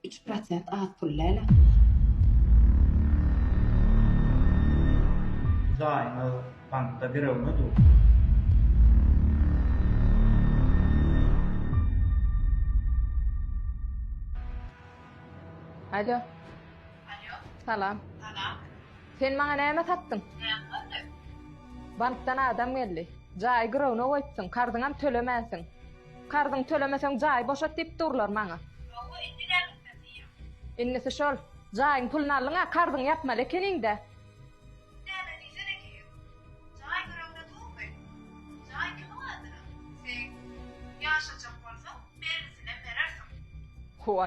Iki prosent az pul däl. Jaýyňyz bankda birogna dur. Alo. Alo. Salam. Salam. Sen maňa näme satdyň? Bankdan adam geldi. Jaýy girowna goýupsyň, karzyňam tölemänsiň. Karzyňy tölemeseň jaýy boşat diýip durlar maňa. Hawa indi näme etmeli diýýäň. Indisi şol. Jaýyň puluny aldyňa karzyňy ýapmaly ekeniňdä. Näme diýsen ekeýin. Jaý ýüregde durmy? Jaý kimiň adyna? Seň. Ýaşajak bolsaň belgisinem berersiň. Howa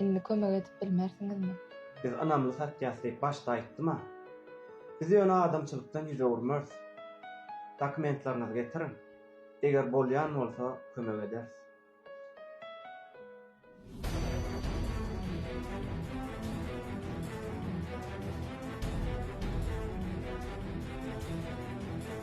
Indi kömek edip bilmersiňizmi? Biz ynamly satýas diýip başda aýtdym-a. Biz ýöne adamçylykdan ýüz öwürmeris. Dokumentlaryňyzy getiriň. Eger bolýan bolsa kömek ederis.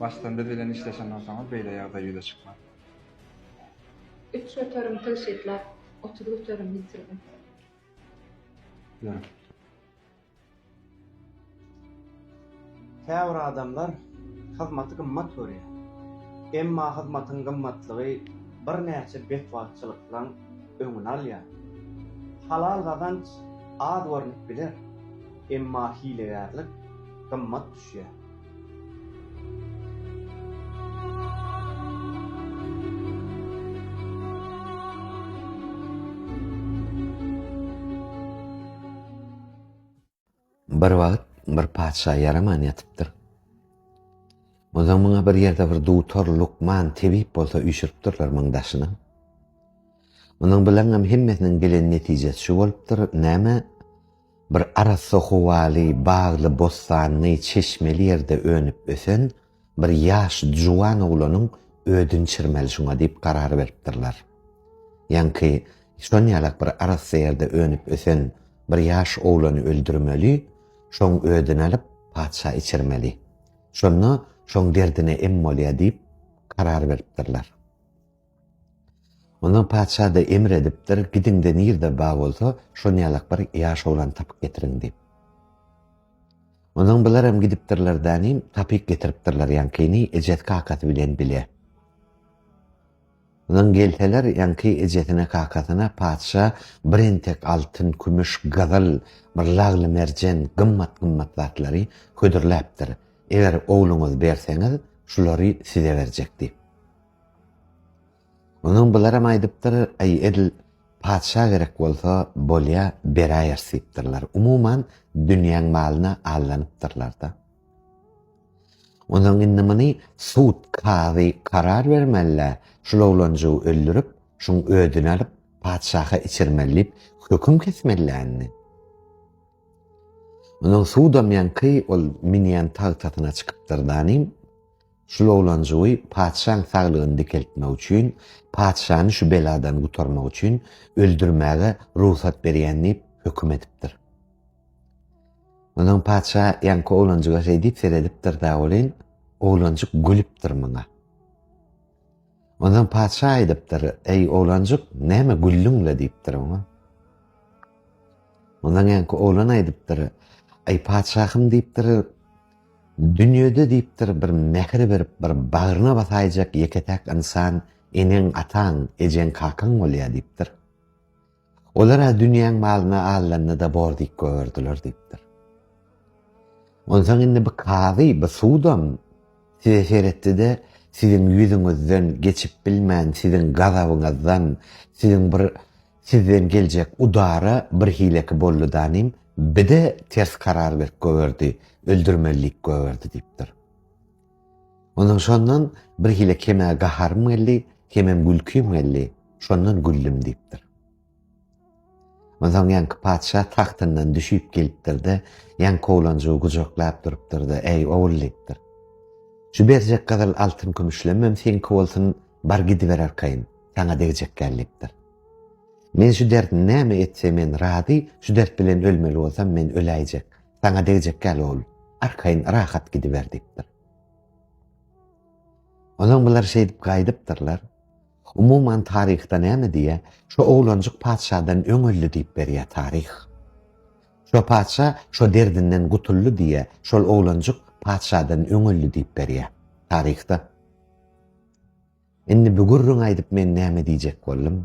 Başdan biz bilen işleşen bolsaňyz beýle ýagdaý ýüze çykmaz. Üç motorym tygşytlap, otuz motorym ýitirdim. Ýörüň. Käbir adamlar hyzmaty gymmat görýär. Emma hyzmatyň gymmatlygy birnäçe betbagtçylyklaryň öňüni alýar. Halal gazanç az görnüp biler, emma hilegärlik gymmat düşýär. Bir wagt bir patyşa ýaraman ýatypdyr. Ondan muňa bir ýerde bir dutar lukman tebip bolsa üýşüripdirler muň daşyna. Munuň bilen hem hemmesiniň gelen netijesi şu bolupdyr. Näme? Bir arassa howaly, bagly, bossanly, çeşmeli ýerde önüp-ösen bir ýaş juwan oglanyň ödün çirmeli şuňa diýip karar beripdirler. Ýaňky şon ýalak bir arassa ýerde önüp-ösen bir ýaş oglany öldürmeli, şoň ödün alyp, patyşa içirmeli. Şonda şoň derdine em bolýa diýip karar beripdirler. Ondan patyşa-da emr edipdir, Gidiň-de nirede bag bolsa, şon ýalak bir ýaş oglany tapyp getiriň diýip. Ondan bularam gidipdirler danim, tapyp getiripdirler ýaňkyny ejesi-kakasy bilen bile. Ondan gelseler, ýaňky ejesine-kakasyna patyşa bir entek altyn, kümüş, gyzyl, bir lagly merjen, gymmat-gymmat zatlary hödürläpdir. Eger ogluňyzy berseňiz, şulary size berjek diýip. Onuň bularam aýdypdyr, Aý, edil patyşa gerek bolsa, bolýa, beräýers diýipdirler. Umuman, dünýäň malyna allanypdyrlar-da. Onuň indi muny sud, kazy karar bermeli-dä, şul oglanjygy öldürip, şuň ödüni alyp, patyşaha içirmeli diýip, höküm kesmeli-dä indi. Onuň sudam ýaňky ol münýän tagtasyna çykypdyr-da inim. Şul oglanjygy patyşaň saglygyny dikeltmek üçin, patyşany şu beladan gutarmak üçin öldürmäge rugsat berýän diýip höküm edipdir. Onsoň patyşa ýaňky oglanjyga şeýdip seredipdir-da welin, oglanjyk gülüpdir muňa. Onsoň patyşa aýdypdyr, Eý, oglanjyk, näme güldüň-le? diýipdir oňa. Ondan känki oglan aýdypdyr, Eý, patyşahym diýipdir, dünýede diýipdir, bir mähir berip, bir bagryna basaýjak ýeke-täk ynsan eneň, ataň, ejeň, kakaň bolýar diýipdir. Olar-a dünýäň malyny alanda-da bor diýip goýberdiler diýipdir. Onsoň indi bu kazy, bu sudam size seretdi-de, siziň ýüzüňizden geçip bilmän, siziň gazabyňyzdan, siziň bir sizden geljek udara birhileki boldy danym, bi-de ters karar berip goýberdi, öldürmeli diýip goýberdi diýipdir. Ondan şondan bir hile kemä gaharym geldi, kemem gülkim geldi, şondan güldüm diýipdir. Ondan ýaňky patyşa tagtyndan düşüp gelipdir-de, ýaňky oglanjygy gujaklap durupdyr-da, Eý, ogul diýipdir. Şu berjek gyzyl altyn kümüşlemem seňki bolsun, bar gidiber arkaýyn, saňa degjek gel diýipdir. Men şu dert näme etse men razy, şu dert bilen ölmeli bolsam men öläýjek. Saňa degjek ýaly ol arkaýyn rahat gidiber diýipdir. Onuň bular şeýdip gaýdypdyrlar. Umuman taryhda näme diýýä, şu oglanjyk patyşadan öň öldi diýip berýä taryh. Şo patyşa şo derdinden gutuldy diýýä, şol oglanjyk patyşadan öň öldi diýip berýä taryhda. Indi bu gürrüňi aýdyp men näme diýjek boldum?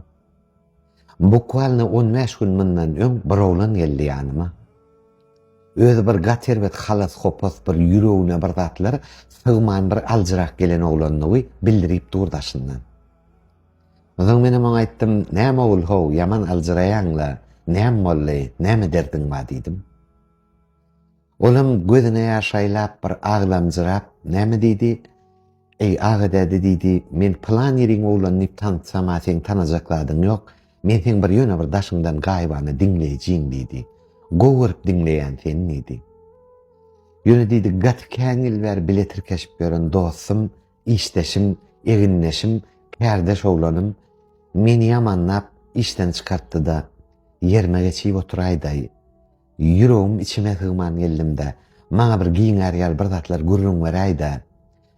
Bukwalno on bäş gün mundan öň bir oglan geldi ýanyma. Özi bir gaty erbet halas-hopas bir ýüregine bir zatlar sygman bir aljyrak gelen oglandygy bildirip dur daşyndan. Onsoň menem oňa aýtdym, Näme ogul-how, ýaman aljyraýaň-la, näme boldy, näme derdiň bar diýdim. Olam gözüne ýaş aýlap, bir aglamjyrap, Näme diýdi? Eý, aga däde diýdi, Men pylan ýeriň oglany diýip tanytsam-a seň tanajak zadyň ýok. Men seň bir ýöne bir daşyňdan gaýybana diňleýjiň diýdi. Gowy görüp diňleýän sen diýdi. Ýöne diýdi, gaty kän ýyl bäri bile tirkeşip ýören dostum Işdeşim, egindeşim, kärdeş oglanym meni ýamanlap işden çykartdy-da, ýerime geçip oturaýdaý. Ýüregim içime sygman geldim-de, maňa bir giňär ýaly bir zatlar gürrüň beräý-dä.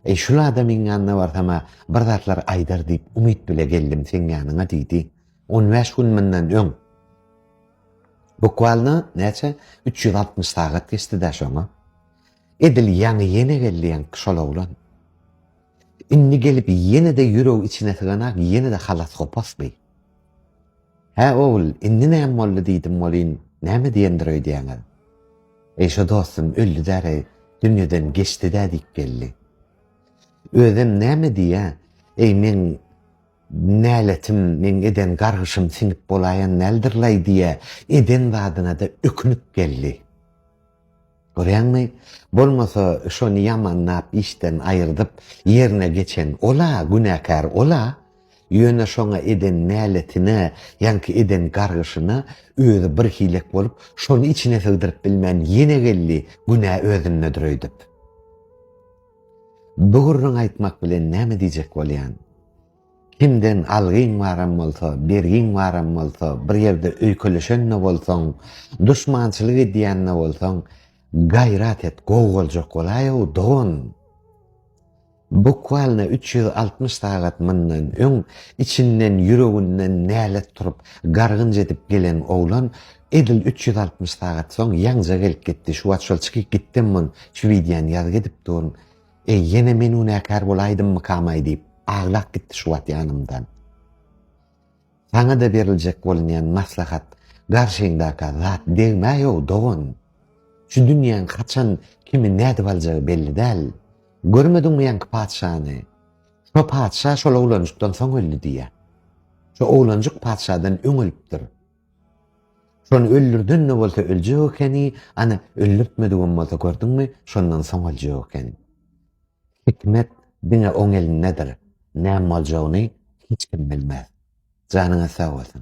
Eý, şul adamyň ýanyna barsam-a bir zatlar aýdar diýip umyt bile geldim seň ýanyňa diýdi. On bäş gün mundan öň. Bukwalno, näçe, üç ýüz altmyş sagat geçdi-dä şoňa. Edil ýaňy ýene geldi ýaňky şol oglan. Indi gelip ýene-de ýüregi içine syganak ýene-de halas gopasdy. Hä ogul, indi näme boldy diýdim welin, näme diýendir öýdýäňiz? Eý şo dostum öldüdäreý, dünýeden geçdidä diýip geldi. Özem näme diýýä, eý meň näletim, meň eden gargyşym siňip bolaýan däldir-laý diýýä, eden zadyna-da ökünip geldi. Görýäňmi? Bolmasa şony ýamanlap işden aýyrdyp, ýerine geçen ol-a, günäkär ol-a. Ýöne şoňa eden näletine, ýaňky eden gargyşyna özi bir hilek bolup, şony içine sygdyryp bilmän ýene geldi, günä özündedir öýdüp. Bu gürrüňi aýtmak bilen näme diýjek bolýan? Kimden algyň baram bolsa, bergiň baram bolsa, bir ýerde öýkeleşen-de bolsaň, duşmançylyk edýän-de bolsaň, gaýrat et, gowy boljak bolaý-ow, dogan! Bukwalyna üç ýüz altmyş sagat mundan öň içinden, ýüreginden nälet turup, gargynç edip gelen oglan edil üç ýüz altmyş sagat soň ýaňja gelip gitdi. Şu wagt şol çykyp gitdem mun, şu wideony ýazyp edip durun. Eý, ýene men günäkär bolaýdymmykamaý diýip, aglap gitdi şu wagt ýanymdan. Saňa-da beriljek bolunýan maslahat, garşyňdaka zat degmäý-ow, dogan. Şu dünýäň haçan kimi nädip aljagy belli däl. Görmediňmi ýaňky patyşany? Şo patyşa şol oglanjykdan soň öldi diýýär. Şo oglanjyk patyşadan öň ölüpdir. Şony öldürden-de bolsa öljek ekeni, ana, öldürtmedigem bolsa, gördüňmi, şondan soň öljek ekeni. Hikmet diňe oň elindedir. Näme boljagyny hiç kim bilmez. Janyňyz sag bolsun.